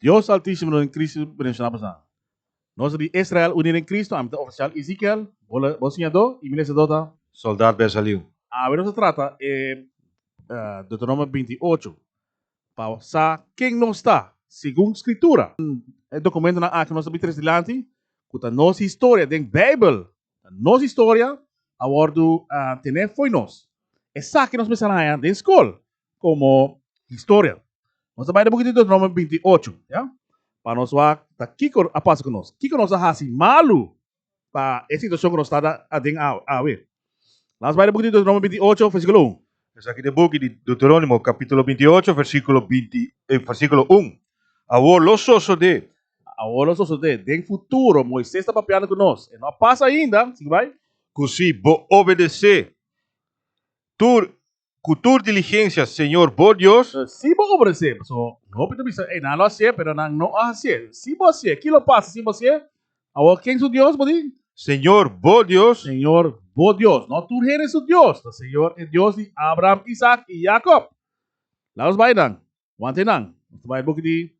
Dios Altísimo den Cristo mencioná pasá. Nos ta di Israel uní den Cristo, ami ta oficial Ezekiel, bo la, bo siñadó, i mi lesedó ta. Soldat Bezaliu. Awe nos ta trata e Deuteronomio binti i ocho pa sa ken nos ta segun Skritura. E dokumentonan aki nos ta bira tres dilanti, ku ta nos historia den Beibel, Ta nos historia, a wòrdu ten'é fo'i nos. Esaki nos mester haña den skol komo historia. Nos ta bai den buki di Deuteronomio binti i ocho, ya? Pa nos wak ta kiko a pasa ku nos, kiko nos a hasi malu pa e situashon ku nos ta aden awe. La'ns bai den buki di Deuteronomio binti i ocho, versíkulo un. Esaki ta e buki di Deuteronimo kapitulo binti i ocho versíkulo binti versíkulo un, Awor lo sosodé. Awor lo sosodé. Den futuro Moises ta papiando ku nos. E no a pasa ainda. Sigui bai. Ku si bo obedesé tur ku tur diligensia Señor bo Dios. Si bo obedesé. Pasobra hopi ta bisa, Ei, nan lo hasié, pero nan no a hasié. Si bo hasié, ki lo pasa si bo hasié? Awor ken su Dios bo tin? Señor, bo Dios. Señor, bo Dios. No tur hende su Dios ta Señor, e Dios di Abraham, Isaac i Jacob. Laga nos bai nan, wanta e nan. Nos ta bai buki di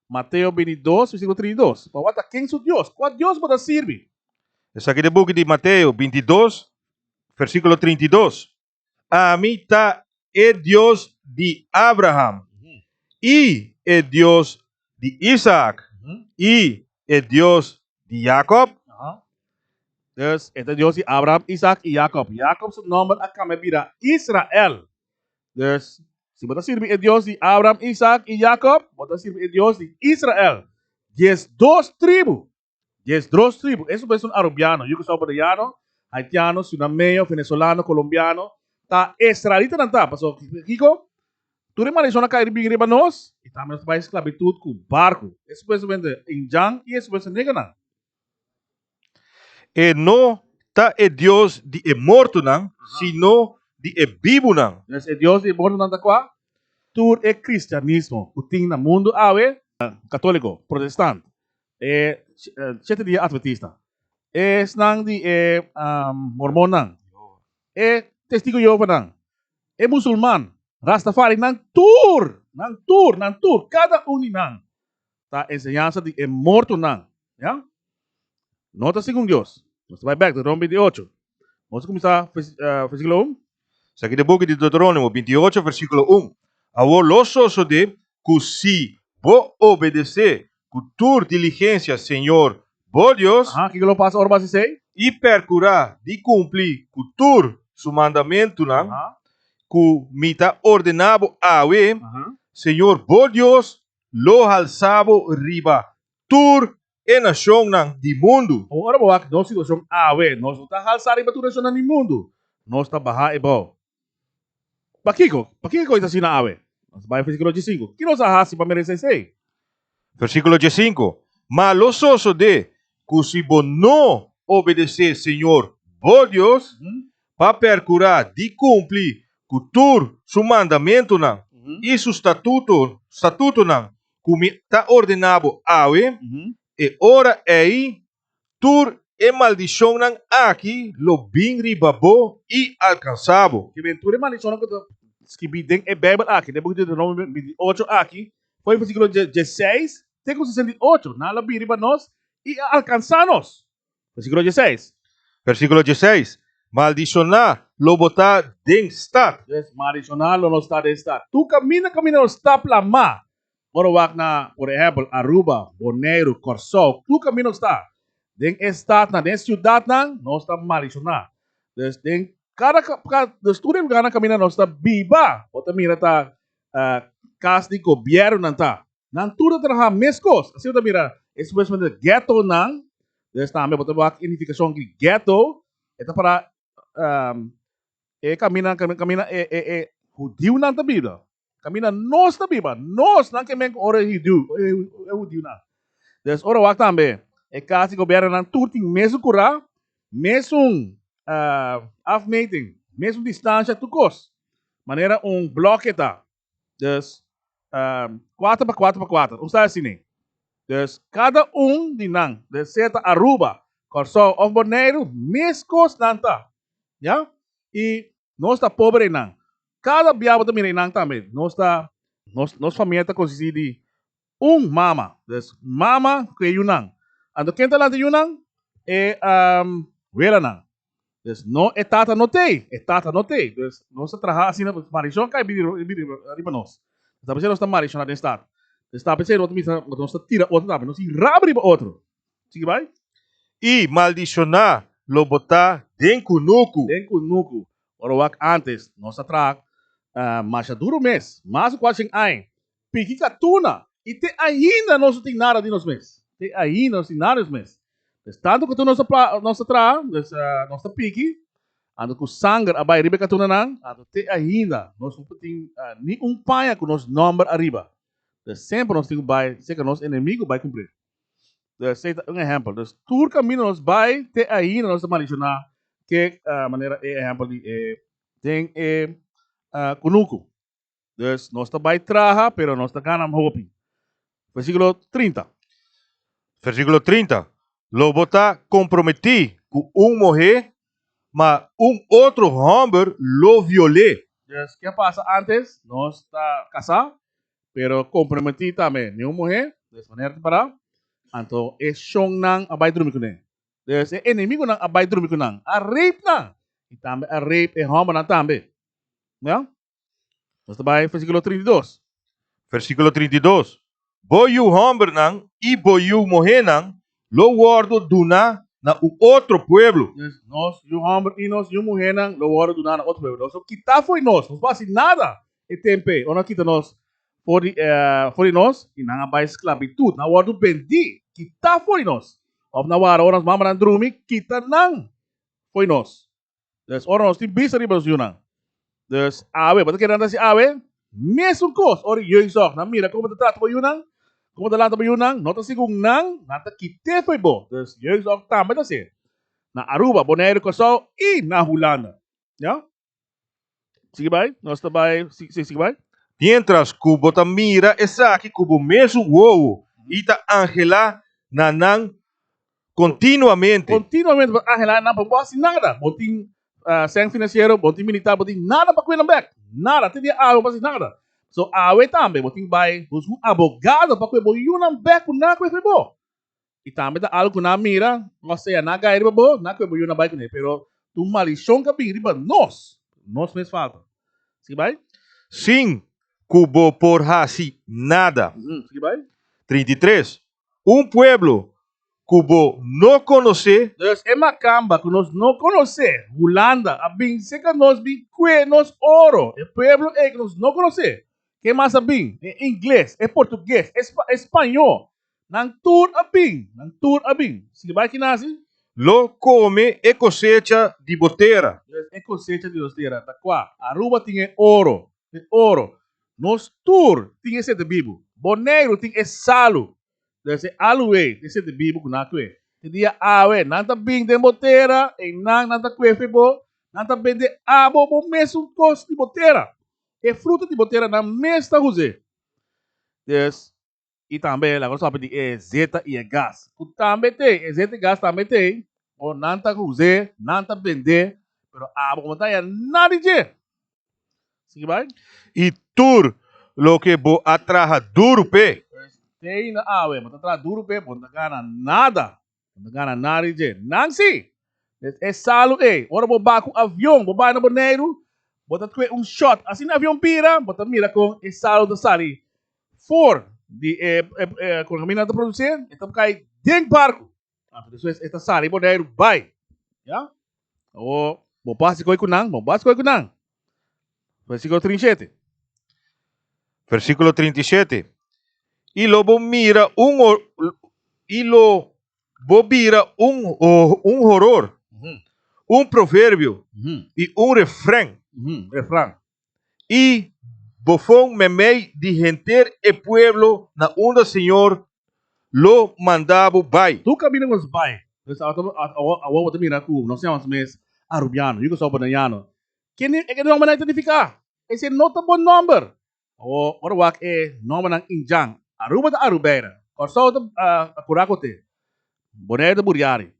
Mateo bintidos, versíkulo trinta i dos. Pa wanta ken su Dios. Kua Dios bo ta sirbi? Esaki ta e buki di Mateo bintidos, versíkulo trinta i dos. Ami ta e Dios di Abraham, i e Dios di Isaak, i e Dios di Jakob? Dus, e ta Dios di Abraham, Isaak i Jakob. Jakob su nòmber a kambia bira Israel. Dus, si bo ta sirbi e Dios di Abraham, Isaak i Jakob, bo ta sirbi e Dios di Israel, diesdos tribu. Dies dros tribu, esun pues un arubiano, yuku salvadoreano, haitiano, sunameño, venezolano, colombiano, ta esralitanan ta, paso kiko? Tur e maldicionnan a kai bin riba nos, y tambe nos ta bai esclavitud cu barco, esun pues supuestamente Injan y esun pues e negernan. E no ta e Dios di e mortonan, sino di e bibunan. Entonces e Dios di e mortonan ta cua? Tur e cristianismo cu tin na mundo awe. Catolico, protestant, E shete di e Adventista. Esnan di e Mormonnan. E Testigu di Jehovanan. E Musulman. Rastafari. Nan tur! Nan tur! Nan tur! Kada un di nan ta enseñansa di e mortonan. Ya? No ta segun Dios. Nos ta bai bèk, ta rompi di ocho. Nos a kuminsá vèrsíkulo un. Esaki ta e boki di Deuteronimo binti i ocho versikulo un, Awor lo sosodé ku si bo obedesé ku tur diligensia Señor bo Dios, Aha, kiko lo pasa ora bo hasi esei? i perkurá di kumplí ku tur su mandamentunan Aha, ku mi ta ordená bo awe, aha. Señor bo Dios lo halsá bo riba tur e nashonnan di mundu. Ora bo wak nos situashon awe, nos no ta halsá riba tur nashonnan di mundu, nos ta bahá ebao. Pakiko? Pakiko ku esta asina awe? Nos bai versíkulo diesinku. Ki nos a hasi pa merese esei? Versíkulo diesinku, Ma lo sosodé ku si bo no obedesé Señor bo Dios pa perkurá di kumpli ku tur Su mandamentunan i Su statutunan ku mi ta ordená bo awe, e ora ei tur e maldishonnan aki lo bin riba bo i alkansá bo. Ke ben tur e maldishonnan ku ta skirbí den e Beibel aki, den e buki Deuteronomio binti i ocho aki, for e versíkulo dieseis te ku sesenta i ocho, nan a la bin riba nos i a alkansá nos. Versíkulo diesseis. Versíkulo diesseis, Maldishoná lo bo ta den stat. Yes, maldishoná lo no sta den stat. Tur kaminda kaminda nos ta plamá, ora wak na, por ehèmpel, Aruba, Boneiru, Kòrsou, tur kaminda nos ta den e statnan, den e siudatnan, nos ta maldishoná. Dus, den kada dus tur e lugarnan kaminda nos ta biba, bo ta mira ta kas di gobièrnunan ta. Nan tur ta traha meskos. Asina bo ta mira e supuestamente e ghettonan, des tambe bo ta wak identificacion di ghetto, e ta para e caminda caminda e hudiunan ta biba, caminda nos ta biba, nos nan kimen cu ora e hudiunan. Des ora wak tambe e cas di gobiernonan tur tin mesun cura, mesun afmeting, mesun distancia tur cos, manera un bloke ta. Dus, kuater pa kuater pa kuater. Un sa asina. Dus, kada un di nan, den sea ta Aruba, Kòrsou òf Boneiru, mes kos nan ta. Ya? I nos ta pober einan. Kada bia bo ta mira einan tambe. Nos ta, nos, nos famia ta konsistí di un mama. Des mama ku e yunan. Anto ken ta lanta yunan? E welanan. Des no e tata no tei. E tata no tei. Des nos ta traha asina pasobra malishon kai bini bini riba nos. Nos ta pensá nos ta malishona den stat. Den stat pensá nos ta mester nos ta tira otro tambe. Nos tin raba riba otro. Sigui bai. I maldishoná lo botá den kunuku. Den kunuku. Ora wak antes nos ta traha masha duru mes. Mas ku kuatsien ai. Piki ka tuna. I te ainda nos no tin nada di nos mes. Te ainda nos tin nada di nos mes. Des tantu katu nos ta nos ta traha, des nos ta piki, anto ku sanger a bai riba e katunanan, anto te ainda nos no por tin ni un paña ku nos nòmber ariba. Des semper nos tin ku bai seka nos enemigu bai kumpli. Des ei ta un ehèmpel. Des tur kaminda nos bai te ainda nos ta malishoná ke manera e ehèmpel di e den e kunuku. Dus nos ta bai traha, pero nos ta gana hopi. Versíkulo 30. Versíkulo 30. Lo bo ta komprometí ku un muhé, ma un otro hòmber lo viol'é. Dus ke a pasa ántes? Nos ta kasá, pero komprometí tambe. Niun muhé, dus manera di pará, anto e shonnan a bai drumi ku nan. Dus e enemigunan a bai drumi ku nan, a rape nan i tambe a rape e hòmbernan tambe. Mira, Nos ta bai versículo 32. Versículo 32. Bo yu hòmbernan i bo yu muhénan lo wòrdu duna na un otro pueblo. Yes, nos yu hòmber i nos yu muhénan lo wòrdu duna na otro pueblo. Nos lo kitá for di nos. Nos por hasi nada e tempe ora nan a kita nos for di for di nos i nan a bai sklabitut. Nan a wòrdu bendí, kitá for di nos. Òf nan wak ora nos mamanan drumi, kita nan for di nos. Dus ora nos tin bista riba nos yunan. Dus awe, bo ta kere nan ta hasi awe? Mesun kos ora e jeugdzorg. Nan mira komo bo ta trata bo yunan, komo bo ta lanta bo yunan, no ta segun nan, nan ta kite fo'i bo. Dus jeugdzorg tambe ta así. Na Aruba, Bonaire, Kòrsou i na Hulanda. Ya. Sigui bai, nos ta bai, si, si, sigui bai. Mientras cu bo ta mira esaki cu bo mesun wowo y ta angela na nan continuamente. Continuamente bo ta angela nan pa bo haci nada. Bo tin seng financiero, bo tin militar, bo tin nada pa cuida bek. Nada, te dia awe bo haci nada. So awe tambe bo tin bai hos un abogado pa cu e bo yu nan bek cu nan cu e fe bo. I tambe ta algu ku nan a mira, nos ta yaná gai riba bo, nan kue bo yuna bai kuné, pero tu malishon ka bin riba nos, nos mes falta. Sigui bai. Sin ku bo por hasi nada. Sigui bai. Trinta i tres, un pueblo ku bo no konosé. Dus e makamba ku nos no konosé, Hulanda, a bin seka nos bin kue nos oro, e pueblo ei ku nos no konosé. Ke mas a bin? E ingles, e portuges, e spañó, Nan tur a bin, nan tur a bin. Sigue bai ki nazi. Lo come e cosecha di bo tera. Yes, e cosecha di nos tera. Ta cua? Aruba tin e oro, e oro. Nos tur tin esente bibu. Boneiru tin e salu. Yes, e aluwe tin esente bibu cu nan a cue. E dia awe nan ta bin den bo tera, eynan nan ta cue fe bo, nan ta bende abo bo mesun cos di bo tera. E fruta di bo tera nan mes ta huze. Yes, y tambe laga nos papia di e zeta y e gas cu tambe t'e e zeta y gas tambe t'e ora nan ta us'e nan ta bend'e pero abo como ta ya nadi dje sigi bay. Y tur loke bo a traha duru p'e. Stay na awe bo ta traha duru p'e bo no ta gana nada Bo no gana nada di dje. Nan si! Des e salu ei, ora bo ba ku avion, bo bai na Boneiru, bo ta tue un shot. Asina e avion bira, bo ta mira kon e salu ta sali for di e kon e mina ta produsé, e ta kai den barku. Anto despues e ta sali Boneiru bai. Ya. Bo bas di koi ku nan, bo bas di koi ku nan. Versículo 37. Versículo 37. Y lo bo mira un y lo bo mira un un horror, un proverbio y un refrán. Refrán. Y bofon memei di henter e pueblo na unda Señor lo manda bo bai. Tur kabina ku nos bai, nos awor bo ta mira ku nos yama nos mes Arubiano, yu ku so Bonaiano. Ke e ke nòmbernan e ta nifiká? Esei no ta bon nòmber. Awor, ora wak e nòmbernan Injan. Aruba ta Arubeira. Kòrsou ta Kurakote. Boneiru ta Buriari.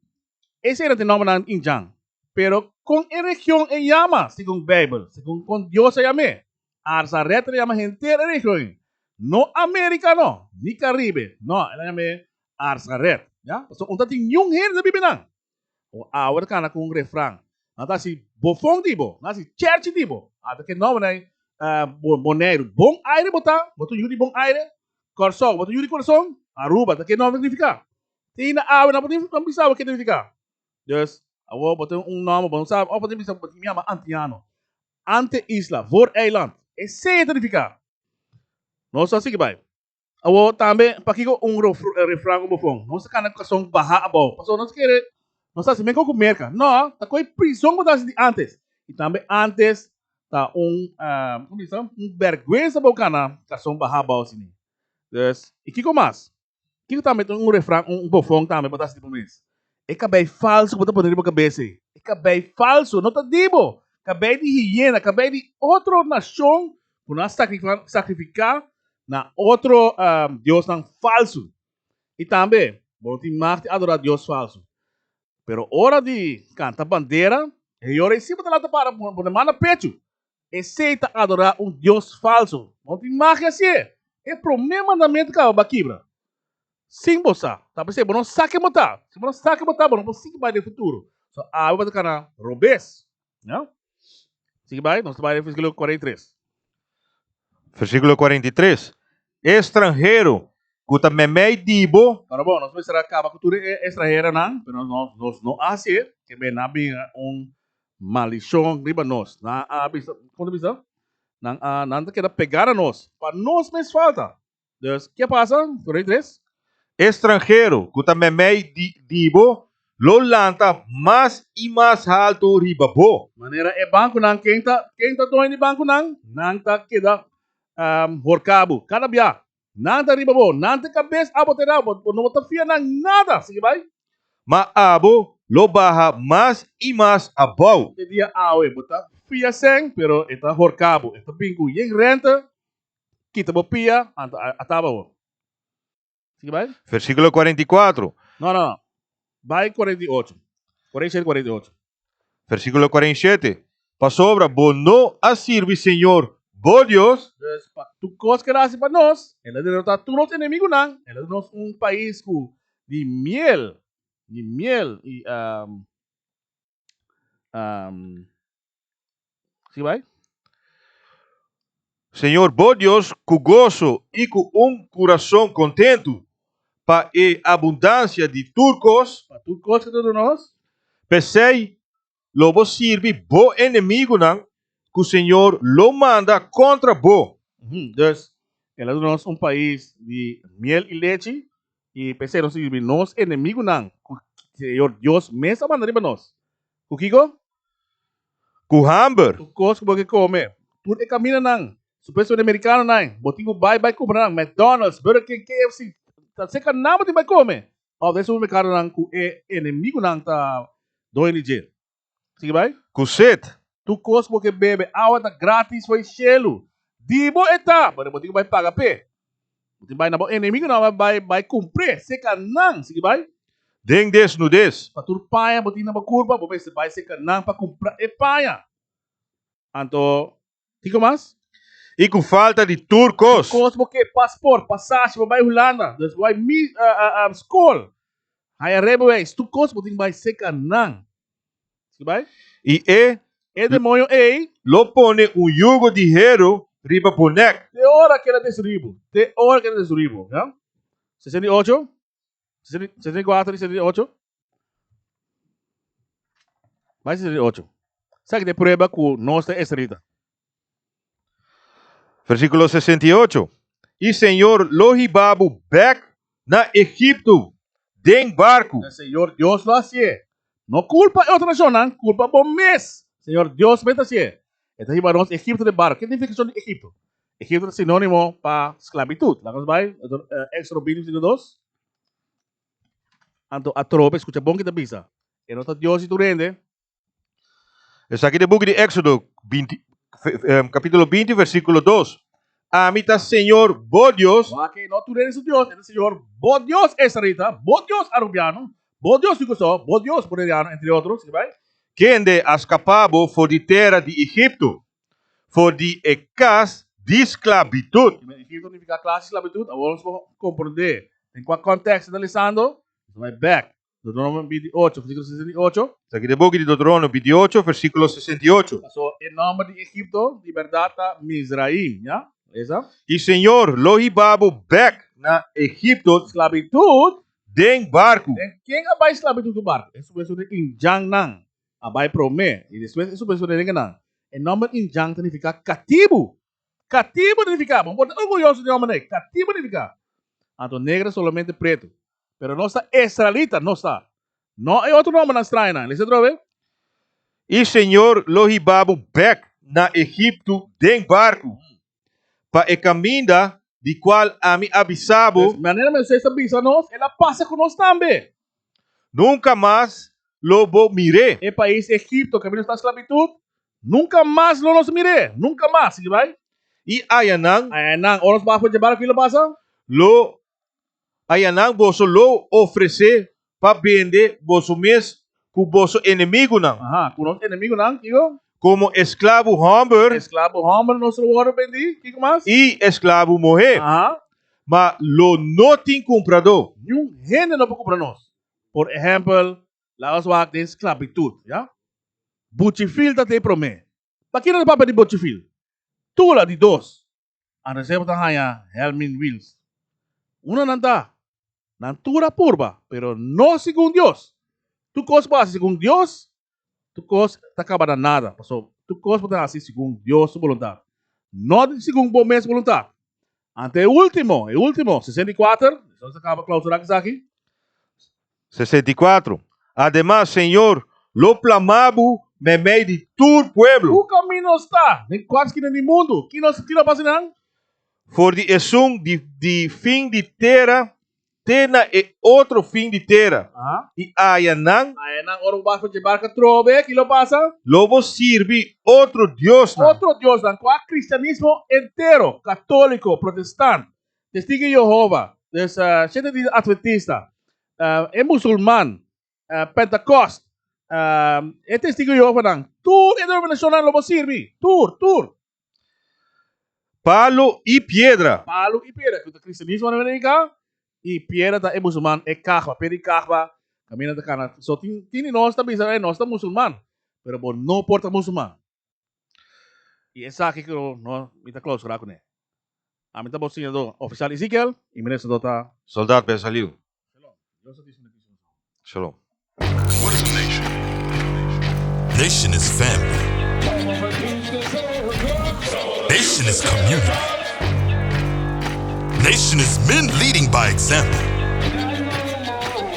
E sera tin nòmbenan indjan. Pero kon e region e yama segun Beibel? Segun kon Dios a yam'é? Arsa Red el a yama henter e region ei, no Amérika nò, ni Karibe, nò, el a yam'é Arsa Red. Ya? Pasobra unda tin niun hende ta bibi nan. O awe ta kana ku un refran, Nan ta hasi bofon di bo, nan hasi chèrchi di bo. After ke nòmbenan ei, Boneiru, bon aire bo ta, bo ta yu di bon aire. Kòrsou, bo ta yu di kurason. Aruba, ta ke nòmbe ta signifiká? tin hinda awe nan por tin nan bisa bo ke ta nifiká. Dus awor bo tin un nòmber, bo no sa, òf bo tin bisa bo tin yama antiano. Ante isla, voor eiland. Esei e ta nifiká. Nos a sigui bai. Awor tambe pakiko un refran ku bo pon, Nos a kana ku kason baha abou. Pasobra nos kere, nos hasi mengua ku Merka. Nò, ta koi prizon ku bo ta hasi di antes. I tambe antes ta un un bèrguensa pa bo kana kason baha abou asina. Dus i kiko mas? Kiko tambe ta un refran, un bofon tambe bo ta hasi di bo mes? E kabei falso ku bo ta pone riba bo kabes ei, e kabei falso no ta di bo, kabei di hiena, kabei di otro nashon ku nan a sakrifiká na otro diosnan falso. I tambe bo no tin magt di adorá dios falso. Pero ora di kanta bandera, e heyore ei si bo ta laga para pone man na pechu, Esei ta adorá un dios falsu. Bo no tin magia si'e. E promé mandamentu kaba bo a kibra. Sin bo sa, ta p'esei bo no sa ken bo ta. Si bo no sa ken bo ta, bo no por sigui bai den futuro. So, awe bo ta kana robes. Nau. Sigui bai, nos ta bai den versikulo kuarenta i tres. Versikulo kuarenta i tres, E stranhero ku ta meimei di bo. Ora bon, nos mester a kaba ku tur e estranheronan, pero nos no a hasi'e. Ke b'e na bin un Maldición riba nos. Nan a bisa, como ta bisa? Nan a, nan ta keda pegá na nos, pa nos mes falta. Dus, ke a pasa? Corei tres. E stranhero ku ta memei di di bo lo lanta mas i mas haltu riba bo. Manera e bankunan, ken ta, ken ta doño di bankunan? Nan ta keda horká bo. Kada biaha Nan ta riba bo, nan ta kabes abo te rau, bo no ta fia nan nada, sigui bai. Ma abo lo baha mas i mas abou. E dia awe bo ta fia sèn, pero e ta horka bo, e ta bin ku yen rènta, kita bo pia, anto a taba bo. Sigui bai. Versíkulo kuarenta i kuatro. No, no, no. Bai kuarenta i ocho. Por ei sheri kuarenta i ocho. Versíkulo 47, Pasobra bo no a sirbi Señor, bo Dios. Dus pa tur kos ku el a hasi pa nos, el a derotá tur nos enemigunan, el a duna nos un pais ku di miel, di miel i. Sigui bai. Señor bo Dios cu gozo y cu un curazon contentu pa e abundancia di tur cos, Pa tur cos cu ta duna nos. p'esey lo bo sirbi bo enemigunan cu Señor lo manda contra bo. Ujú, Dus, el a duna nos un pais di miel y lechi, I p'esei nos ta yirbi nos enemigunan ku Señor Dios mes a manda riba nos. Ku kiko? Ku hamber! Tur kos ku bo ke kome, tur e kaminanan, supuestamente merikanonan, bo tin ku bai bai kumpra nan. McDonald's, Burger King, KFC, ta serka nan bo tin bai kome, pasobra esei un merkadonan ku e enemigunan ta doño di dje. Sigui bai. Cu set. Tur cos cu bo ke bebe, awa ta gratis for e cielu. Di bo e ta, pero bo tin cu bai paga p'e. Bo tin bai na bo enemigonan awa bai bai cumpr'e. Seca nan. Sigui bai. Den desnudez. Pa tur paña bo tin na bo curpa, bo mester bai seca nan pa cumpra e paña. Anto. Kiko mas? I ku falta di tur kos. Kos bo ke pasport, pasashi, bo bai Hulanda, dus bo bai mi uh, uh, uh, skol, haya rijbewijs, tur kos bo tin bai seka nan. Siki bai? I e E demonio ei, lo pone un yugo di heru riba bo nek. te ora keda destruí bo, te ora keda destruí bo, ya? 68, 64 i 68. Mai si di ocho. Saki de prueba ku nos ta esrita. Versículo 68. I Señor lo hiba bo bek na Egipto den barku. E Señor Dios lo hasié. No kulpa e otro nashonnan, kulpa bo mes. Señor Dios mes ta hasié. E ta hiba nos Egipto den barku. Ke nifikashon di Egipto? Egipto ta sinónimo pa sklabitut. Laga nos bai Éxodo binti, versíkulo dos. Anto atrobe, skucha bon ki ta bisa. E no ta Dios di tur hende. Esaki ta e buki di Exodo kapitulo binti versikulo dos, Ami ta Señor bo Dios. Wak, no tur hende su Dios, e ta Señor bo Dios esraelita, bo Dios arubiano, bo Dios di Kusó, bo Dios boleriano entre otro. Sigui bai. Kende a skapá bo for di tera di Egipto? for di e kas di sklabitut. Egipto no nifiká klas di sklabitut, awor nos por komprendé den kua kòntèks e ta lisando. Nos bai bèk, Deuteronomio binti i ocho, versíkulo sesenta i ocho. Esaki ta e buki di Deuteronomio binti i ocho, versíkulo sesenta i ocho. Paso, e nòmber di Egipto di bèrdat ta Mizraim, ya? Lesa. I Señor lo hiba bo bèk na Egipto. Sklabitut. Den barku. Den ken a bai sklabitut ku barku? Esun den indjannan. a bai promé i despues e su persona denga nan. E nòmber Injang ta nifiká katibu. Katibu ta nifiká, bo por ta orguyoso di nòmber ei, katibu nifiká. Anto negro solamente pretu. Pero nos ta esralita, nos ta. No e otro nòmbernan strañanan. Lesa atrobe. I Señor lo hiba bo bèk na Egiptu den barku. pa e kaminda di kual ami a bisa bo. Des manera Moises a bisa nos, el a pasa ku nos tambe. Nunka mas lo bo mir'é. E pais Egipto, kaminda nos ta sklabitut, nunka mas lo nos mir'é, nunka mas. Sigui bai. I ayanan. Ayanan, ora nos pasa for dje barku, kiko lo pasa? Lo Ayanan boso lo ofresé pa bende boso mes ku boso enemigunan. Aha, ku nos enemigunan, kiko? Komo esklabu hòmber. Esklabu hòmber nos lo wòrdu bendí. Kiko mas? I esklabu muhé. Aha. Ma lo no tin kumpradó. Niun hende no por kumpra nos. Por ehèmpel, laga nos wak den sklabitut, ya? Buchifil ta te promé. Pakinan nos papia di buchifil? Tula di dos. a reserva ta haña Helmin Wils. Una nan ta, Nan tur a purba, pero no segun Dios. Tur kos ku hasi segun Dios, tur kos ta kaba na nada. Pasobra tur kos bo ta hasi segun Dios su boluntat, no segun bo mes boluntat. Ante e último, e último, sesenta i kuater, esaki ta kaba klausurá esaki. 64. Ademas, Señor, lo plamá Bo memei di tur pueblo. Ku kaminda nos ta? Den kua skina di mundu? Ki nos tira pa sinan? For di esun di fin di tera te na e otro fin di tera, i aya nan. Aya nan, ora bo bas fasi e barka trobe, ki lo pasa? Lo bo sirbi otro diosnan. Otro diosnan? Kua kristianismo entero, katóliko, protestant. Testigu di Jehova, dus Shet'e Dia Adventista, e Musulman, Pentekost, e Testigu di Jehovanan, tur e denominashonnan lo por sirbi. Tur, tur. Palu i piedra. Palu i piedra, ku ta kristianismo na Amerika, i piedra ta e musulman, e Ka'ba, piedra di Ka'ba, kaminda ta kana. So tin di nos ta bisa, nos ta musulman, pero bo no por ta musulman. I esaki ku no mi ta klousura kuné. Ami ta bo siñadó ofisial Ezikiel, i mi resadó ta. Sòldat Ben Saliu. Shalom. Haitian is family. Haitian is community. Haitian is men leading by example.